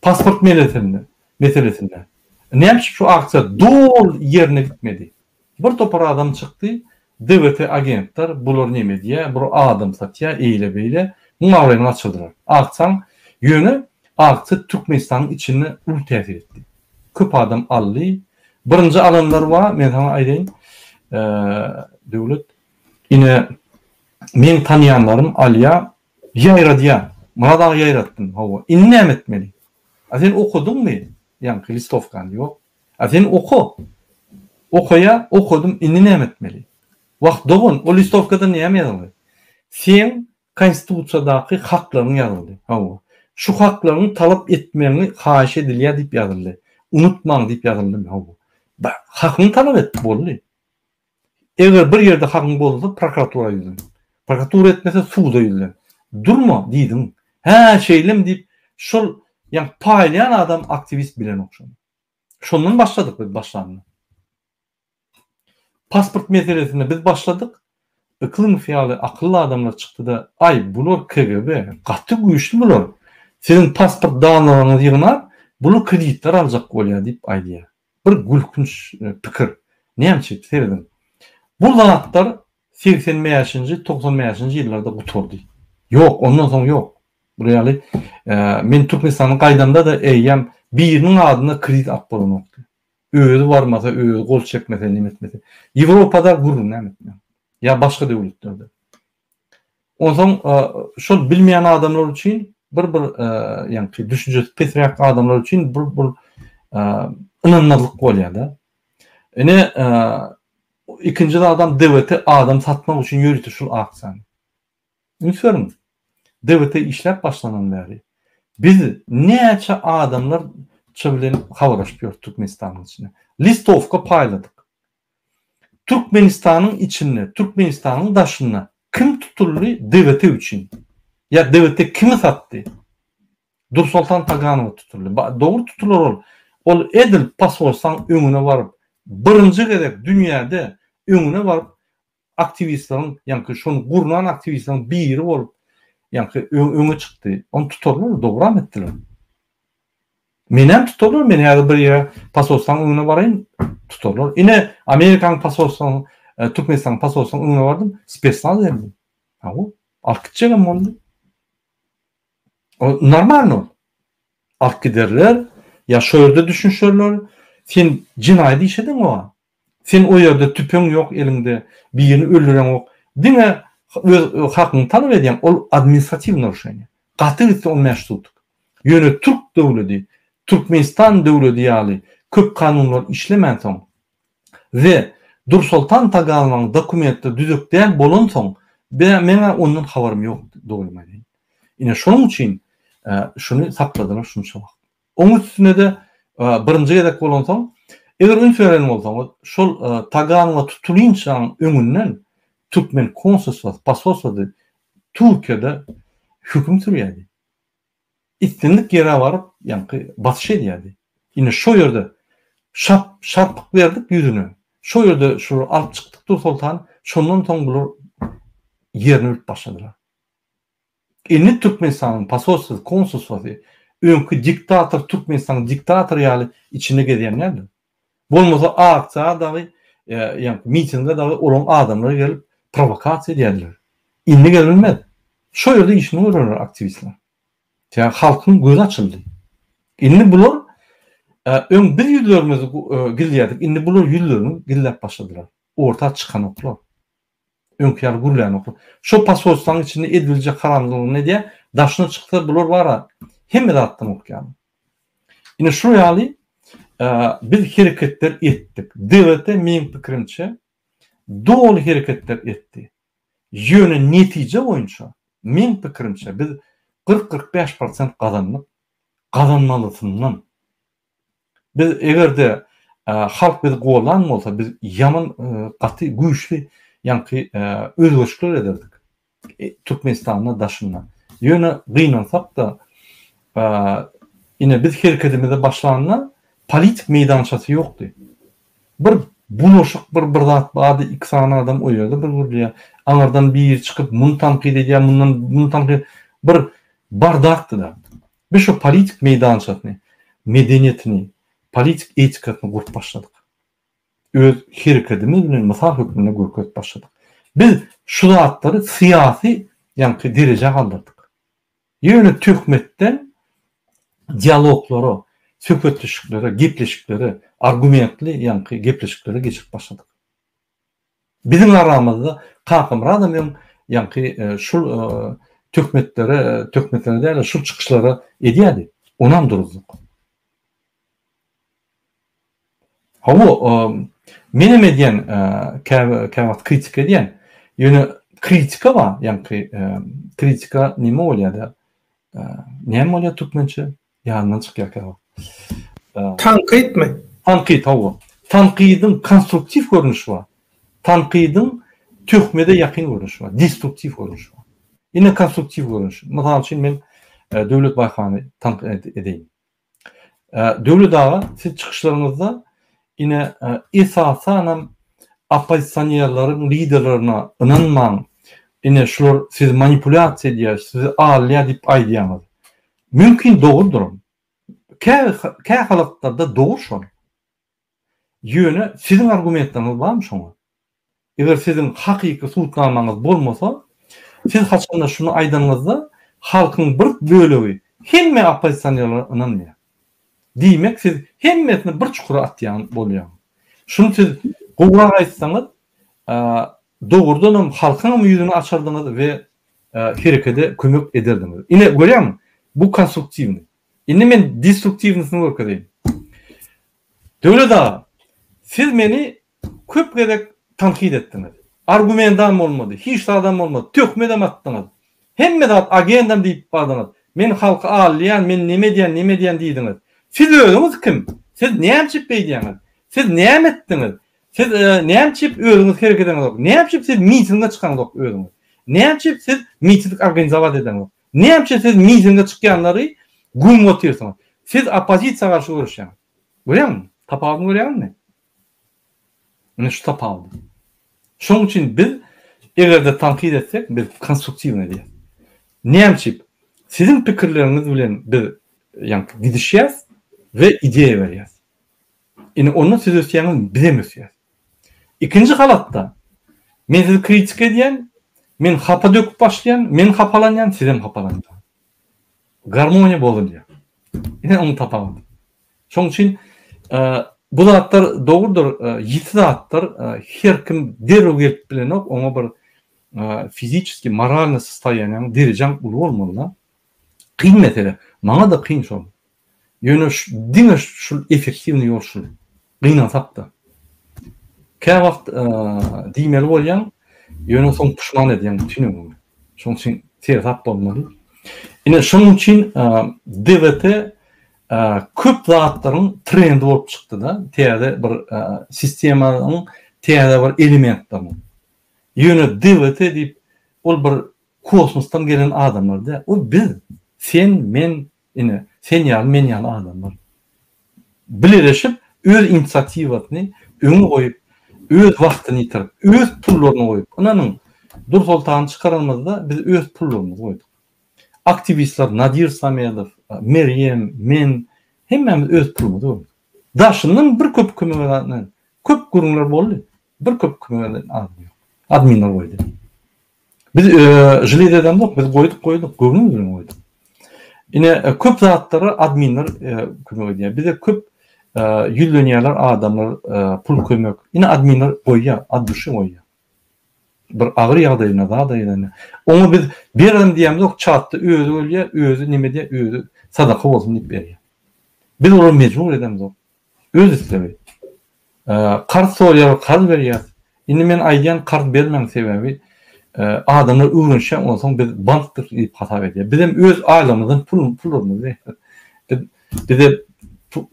[SPEAKER 2] Pasport melesinde, meselesinde näme üçin şu aksiýa doly ýerine ýetmedi? Bir topar adam çykdy, DWT agentler, bular neme edýä, bur adam satýa, eýle beýle, muň abraýyny gaçyrdylar. Akjaň, ýöne akja Türkmenistanyň içinde uly täsir etdi. Köp adam aldy. Birinji alanlar bar, men saňa aýdaýyn, Döwlet. Ine, meň tanýanlarym alýa, ýaýradýa. Myrat aga ýaýratdym, hawa. Indi näme etmeli? A sen okadyňmy ýaňky listowkany? Ýok. A sen oka. Okaýa, okadym, indi näme etmeli? Wah, dogan, o listowkada näme ýazyldy? Seň Konstitusiýadaky haklaryň ýazyldy. Hawa. Şu haklaryňy talap etmegiňi haýyş edilýär diýip ýazyldy. Unutmaň diýip ýazyldymy? Hawa. Bar, hakyňy talap et, boldy. Eger bir ýerde hakyň bolsa prokuratura ýüzlen. Prokuratura etmese suda ýüzlen. Durma diýdiň. Hä şeýlemi diýip şol ýaňy paýlaýan adam aktiwist bilenok şony. Şondan başladyk biz başlanda. Pasport meselesinde biz başladyk. Yklymov ýaly akylly adamlar çykdyda aý bular KGB gaty güýçli bular. Siziň pasport danlaryňyzy ýygnap bular kreditler aljak bolýar diýip aýdýar. Bir gülkünç pikir. Näme üçin? Serediň. Bu zatlar segsen bäşinji, togsan bäşinji ýyllarda gutardy. Ýok, ondan soň ýok. Bular ýaly men Türkmenistana gaýdamda-da eýýäm biriniň adyna kredit alyp bolanokdy. Özi barmasa, özi gol çekmese, neme etmese. Ýewropada gürrüňem etme. Ýa başga döwletlerde. Onsoň şol bilmeýän adamlar üçin bir bir ýaňky düşünjesi pesräk adamlar üçin bir bir ynanmazlyk bolýar-da. Ine ikinji zadam DWT adam satmak üçin ýörite şul aksiýany. Üns beriň. DWT işläp başlanan bäri biz näçe adamlar çy bilen habarlaşyp ýörüp Türkmenistanyň içinde. Listowka paýladyk. Türkmenistanyň içinde, Türkmenistanyň daşynda kim tutuldy DVT üçin? Ýa DVT kimi satdy? Dursoltan Taganowa tutuldy. Dogry tutular ol. Ol edil posolstwaň öňüne baryp, birinji gezek dünýäde öňüne baryp, aktiwistleriň, ýaňky şony gurnan aktiwistleriň biri bolup, ýaňky öňe çykdy. Ony tutarlar, dogram etdiler. Menem tutarlar, men häzir bir ýa pasolstanyň öňüne baraýyn, tutarlar. Ine, Amerikanyň pasolstanyň, e, Türkmenistanyň pasolstanyň öňüne bardym, spesnaz geldi. Aw, alyp gitjegem boldy. O normalno. Alyp giderler, ýa şo ýerde düşünişerler, sen jenaýat iş ediň oňa. Sen o ýerde tüpeň ýok eliňde, birini öldüreňok, diňe öz hakyňy talap edýäň, ol administratiwnyý narušeniýa. Gaty gitse on bäş sutuk. Ýöne türk döwledi, Türkmenistan döwledi ýaly köp kanunlar işlemänsoň we Dursoltan Tagalmaň dokumentleri düzek däl bolansoň, be meň-ä ondan habarym ýok, dogrymy aýdaýyn. Ine şonuň üçin şuny sakladylar şunça wagt. Oň üstüne-de birinji gezek bolansoň, eger üns beren bolsaňyz, şol Taganwa tutulynçaň öňünden türkmen konsulstwasy, posolstwasy Türkiýede höküm sürýärdi. Islendik ýere baryp, ýaňky basyş edýärdi. Ine şo ýerde şap, şarpyk berdik ýüzüne. Şo ýerde şolary alyp çykdyk Dursoltan, şondan soň bular ýerini bilip başladylar. Indi Türkmenistanyň posolstwasy, konsulstwasy öňki diktator Türkmenistanyň diktatory ýaly içinde gezýän däldir. Bolmasa aksiýa dagy, ýa-ni mitinge dagy olaryň adamlary gelip prowokasiýa edýärdiler. Indi gelmez. Şo ýerde işini görerler aktiwistler. Sebäbi halkyň gözi açyldy. Indi bular öň biz ýüzlerimizi gizlýärdik, indi bular ýüzlerini gizläp başladylar. Orta çykanoklar. Öňki ýaly gürlänok. Şo posolstwanyň içinde ediljek haramzlygyny nädýä, daşyna çyksa bular bar-a, hemme zatdan gorkýan. Ine şu ýaly biz hereketler etdik. DWT meň pikirimçe doly hereketler etdi. Ýöne netije boýunça meň pikirimçe biz 40-45 prosent gazandyk. Gazanmalysyndan. Biz egerde halk bizi gollan bolsa biz ýaman gaty güýçli ýaňky özgerişler ederdik Türkmenistanda daşynda. Ýöne gynansakda ine biz herkedimize başlanda politik meýdançasy ýokdy. Bir bulaşyk bir bir zat bardy iki sany adam o ýerde bir gürleýär. Aňyrdan biri çykyp muny tankyt edýär mundan muny tankyt bir bardakdyda. Biz şu politik meýdançasyny, medeniýetini, politik etikasyny gurup başladyk. Öz herekedimiz bilen mysal hökmünde görkezip başladyk. Biz şu zatlary syýasy ýaňky derejä galdyrdyk. Ýöne töhmetden dialoglara, söhbetdeşliklere, gepleşiklere, argumentli ýaňky gepleşiklere geçirip başladyk. Biziň aramyzda Kakamyradam öň ýaňky şul töhmetlere, töhmetlere däl-de şul çykyşlary edýärdi. Onam duruzdyk. Hawa, menem edýän, kä wagt kritika edýän. Ýöne kritika bar, ýaňky kritika näme bolýar-da? Näme bolýar türkmençe? Ýanyndan çykýarka bu.
[SPEAKER 1] Tankytmy? Tankyt, hawa.
[SPEAKER 2] Tankydyň konstruktiw görnüşi bar. Tankydyň töhmede ýakyn görnüşi bar, destruktiw görnüşi bar. Ine konstruktiw görnüşi. Mysal üçin men e, Döwlet Baýhany tankyt edeýin. E, Döwlet aga, siz çykyşlaryňyzda ine e, esasan hem oppozisionerleriň liderlerine ynanmaň. Ine şular sizi manipulýasiýa edýär, sizi alýar diýip aýdýaňyz. Mümkin dogrudyram. Kä kä halatlarda dogry şol. Ýöne siziň argumentleriňiz barmy şoňa? Eger siziň hakyky subutnamaňyz bolmasa, siz haçanda şuny aýdanyňyzda halkyň bir bölegi hemme oppozisionerlere ynanmaýar. Diýmek siz hemmesini bir çukura atýan bolýaň. Şuny siz gowrak aýtsaňyz Dogrudanam halkyňam ýüzüni açardyňyz we herekede kömek ederdiňiz. Ine, görýäňmi? Bu konstruktiwnyý. Indi men destruktiwnysyny görkezeýin. Döwlet aga, siz meni köp gezek tankyt etdiňiz. Argumentam bolmady, hiç zadam bolmady, töhmetem atdyňyz. Hemme zat agendam diýip bardyňyz. Men halky aldaýan, men näme edýän, näme edýän diýdiňiz. Siz özüňiz kim? Siz näme üçin beýdýäňiz? Siz näme etdiňiz? Siz näme üçin özüňiz hereket edeňizok? Näme üçin siz mitinge çykaňyzok özüňiz? Näme üçin siz miting organizowat edeňizok? Näme üçin siz mitinge çykýanlary güm otyrsyňyz? Siz oppozisiýa garşy göreşýäňiz. Görýäňmi? Tapawudyny görýäňmi? Mine şu tapawut. Şoň üçin biz eger-de tankyt etsek, biz konstruktiw edýäs. Näme üçin? Siziň pikirleriňiz bilen biz ýa-da gidişýäs we ideýa berýäs. Indi onda siz ösýäňiz, bizem ösýäs. Ikinji halatda, men sizi kritika edýän, men hapa döküp başlaýan, men hapalanýan, sizem hapalanýan. Garmoniýa bozulýar. Ine onuň tapawudy. Şonuň üçin bu zatlar dogrudyr, ýiti zatdyr. Her kim derrew gelip bilenok, oňa bir fiziki, moralny sostoýaniň, derejaň uly bolmaly-da. Kyn mesele, maňa-da kyn şol. Ýöne diňe şul effektiwnyý ýol şul. Gynansak-da. Käwagt diýmeli bolýaň, ýöne soň puşman edýäň bütin ömrüňi. Şonuň üçin seresap bolmaly. Ine şonuň üçin DVT köp zatlaryň trendi bolup çykdy-da, täze bir sistemanyň täze bir elementleriniň. Ýöne DVT diýip, ol bir Kosmosdan gelen adamlar däl. Ol biz. Sen, men, ine, sen ýaly, men ýaly adamlar. Bileleşip, öz inisiatiwasyny öňe goýup, öz wagtyny ýitirip, öz pullaryny goýup, ynanyň, Dursoltany çykaranymyzda biz öz pullarymyzy goýduk. Aktiwistler Nadir Samedow, Merýem, men, hemmämiz öz pulumyzy goýduk. Daşyndan bir köp kömek eden, köp gürrüňler boldy. Bir köp kömek eden adam ýok. Adminler goýdy. Biz žliz edemzok, biz goýduk, goýduk, göwnümiz bilen goýduk. Ine, köp zatlara adminler kömek edýär. Bize köp ýüzlenýärler adamlar, pul kömek. Ine, adminler goýýar, ad duşy goýýar. Bir agyr ýagdaýynda, zada ýerinde. Oňa biz berelim diýemzok, çatda özi ölýär, özi neme edýär, özi sadaka bolsun diýip berýär. Biz olara mejbur edemzok. Öz islegi. Karz soraýar karz berýäs. Indi men aýdýan karz bermäň sebäbi adamlar öwrenşýän onsoň biz bankdyr diýip hasap edýär. Bizem öz aýlamyzdan pulumyzy biz bize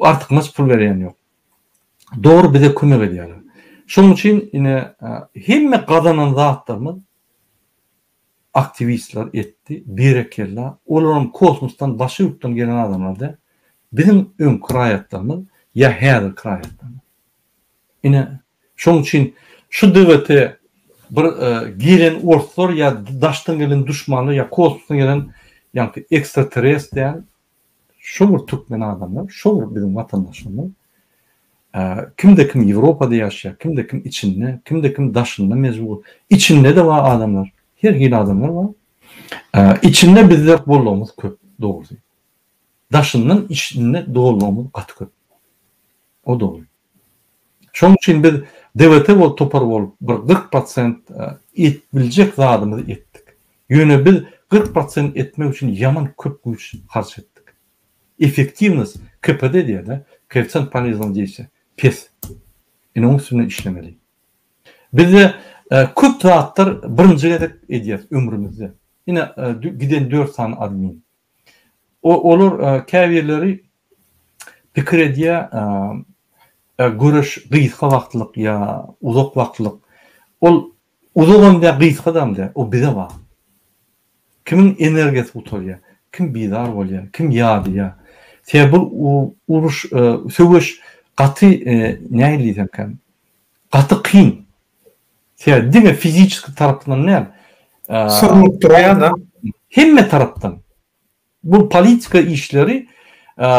[SPEAKER 2] artykmaç pul berýän ýok. Dogry bize kömek edýärler. Şonuň üçin ine hemme gazanan zatlarymyz Aktiwistler etdi berekella olaram kosmosdan başga ýurtdan gelen adamlar däl biziň öňki raýatlarymyz ýa häzirki raýatlarymyz ine şoň üçin şu dgt bir gelen orslar ýa daşdan gelen duşmanlar ýa kosmosdan gelen ýaňky ekstrateres däl Şo bir türkmen adamy, şo bir biziň watandaşymyz kimde kim Ýewropada ýaşaýar, kimde kim içinde, kimde kim daşynda mejbur. Içinde-de bar adamlar, her hili adamlar bar. Içinde bizde bollugymyz köp, dogry. Daşyndan içinde dollugymyz gaty köp. O dogry. Şoň üçin biz DVT bolup topar bolup bir kyrk prosent et biljek zadymyzy etdik. Ýöne biz kyrk prosent etmek üçin ýaman köp güýç harç etdik. Effektiwnost KPD diýada, koeffisient poleznogo deýşe, pes. Indi oň üstünde işlemeli. Bizde köp zatlar birinji gezek edýäs ömrümizde. Ine giden dört sany admin. Olar käbirleri pikir edýär, göreş gysga wagtlyk ýa uzak wagtlyk. Ol uzagam däl, gysgadam däl. O bize bagly. Kimiň energiýasy gutarýar, kim bizar bolýar, kim ýadýar. Sebäbi bu uruş, söweş gaty nähili diýsemkä, gaty kyn. Sebäbi diňe fiziki tarapdan däl. Syrnyp
[SPEAKER 1] durýar-da. Hemme tarapdan.
[SPEAKER 2] Bu politika işleri,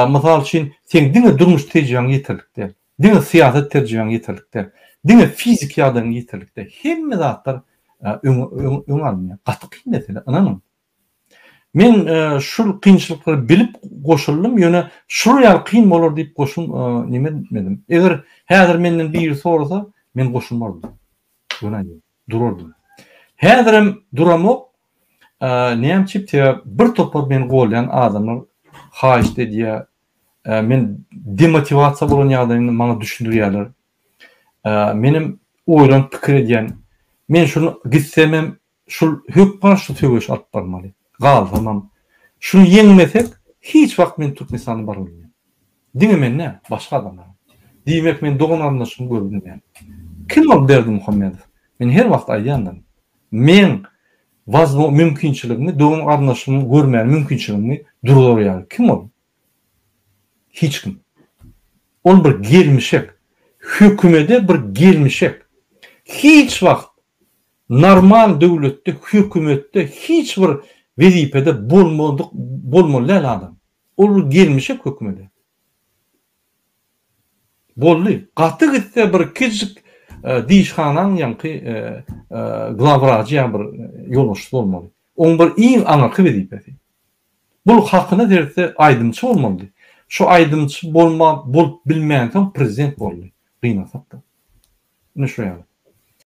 [SPEAKER 2] mysal üçin, seň diňe durmuş tejribeň ýeterlik däl. Diňe syýasat tejribeň ýeterlik däl. Diňe fiziki ýagdaýyň ýeterlik däl. Hemme zatlar öňe alynýar. Gaty kyn mesele, ynanyň. Men şul kynçylyklary bilip goşuldym, ýöne şular ýaly kyn bolar diýip goşun nime etmedim. Eger häzir menden biri sorasa, men goşulmardym. Göräýmeli. Durardym. Häzirem duramok. Näme üçin? Sebäp bir topar meni golýan adamlar haýyşt edýär. Men demotiwasiýa bolan ýagdaýymda maňa düşündirýärler. Menem oýlanyp pikir edýän. Men şuny gitsemem, Şul hök garşy söweş alyp barmaly. Galsamam. Şuny ýeňmesek, hiç wagt men Türkmenistana bara bilmen. Diňe men däl, başga adamlar. Diýmek men dogan-garyndaşymy göre bilmen. Kim ol Berdi Muhammedow? Men her wagt aýdýandyryn. Meň wazmo mümkinçiligimi, dogan-garyndaşymy görmäge mümkinçiligimi duradar ýaly. Kim ol? Hiç kim. Ol bir gelmişek. Hökümede bir gelmişek. Hiç wagt Normal döwletde hökümetde hiç bir wezipede bolmadyk bolmaly däl adam. Ol bir gelmişek hökümede. Boldy. Gaty gitse bir kiçijik dişhanaň ýaňky glawwrajy ýa bir ýolbaşçysy bolmaly. Oň bir iň aňyrky wezipesi. Bul hakyna seretse aýdymçy bolmalydy. Şu aýdymçy bolmap bolup bilmänsoň prezident boldy. Gynasak da. Ine şo ýaly.